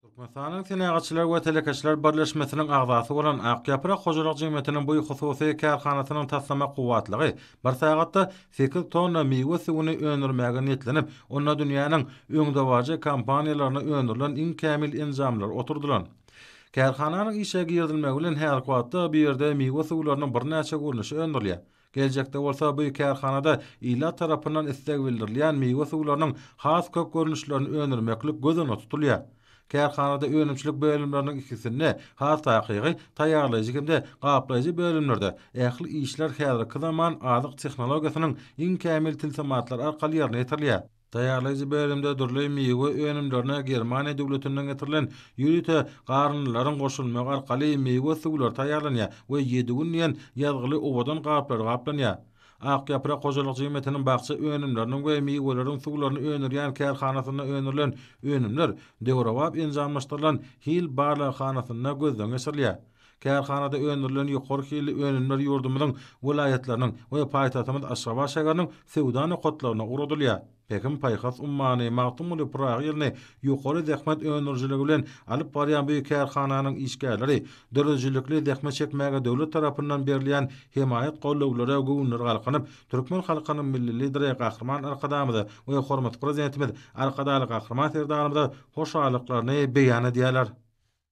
Türkmenistanyň Senagatçylar we telekeçiler birleşmesiniň agzasy bolan Ak ýaprak hojalyk jemgyýetiniň bu hususy kärhanasynyň taslama kuwwatlygy bir sagatda sekiz tonna miwe suwuny öndürmäge niýetlenip, onda dünýäniň öňdebaryjy kompaniýalarynda öndürilen iň kämil enjamlar oturdylan. Kärhananyň işe girizilmegi bilen häzirki wagtda bu ýerde miwe suwlarynyň birnäçe görnüşi öndürilýär. Geljekde bolsa bu kärhanada ilat tarapyndan isleg bildirilýän miwe suwlarynyň has köp görnüşlerini öndürmeklik göz öňünde tutulýar. Kärhanada önümçilik bölümleriniň ikisinde, has takygy, taýýarlaýjy hem-de gaplaýjy bölümlerde ähli işler häzirki zaman azyk tehnologiýasynyň iň kämil tilsimatlary arkaly ýerine ýetirilýär. Taýýarlaýjy bölümde dürli miwe önümlerine Germaniýa döwletinden getirilen ýörite garyndylaryň goşulmagy arkaly miwe suwlary taýýarlanýar we ýedi gün diýen ýazgyly owadan gaplar gaplanýar. Ak ýaprak hojalyk jemgyýetiniň bakja önümleriniň we miweleriň suwlaryny öndürýän kärhanasynda öndürilen önümler döwrebap enjamlaşdyrylan hil barlaghanasynda gözden geçirilýär. Kärhanada öndürilen ýokary hilli önümler ýurdumyzyň welaýatlarynyň we paýtagtymyz Aşgabat şäheriniň söwda nokatlaryna ugradylýar. Pähim-paýhas ummany Magtymguly Pyragy ýylyny ýokary zähmet öndürijiligi bilen alyp barýan bu kärhananyň işgärleri döredijilikli zähmet çekmäge döwlet tarapyndan berilýän hemaýat-gollawlara göwünleri galkynyp, türkmen halkynyň Milli Lideri Gahryman Arkadagymyza we hormatly Prezidentimiz Arkadagly Gahryman Serdarymyza hoşallyklaryny beýan edýärler.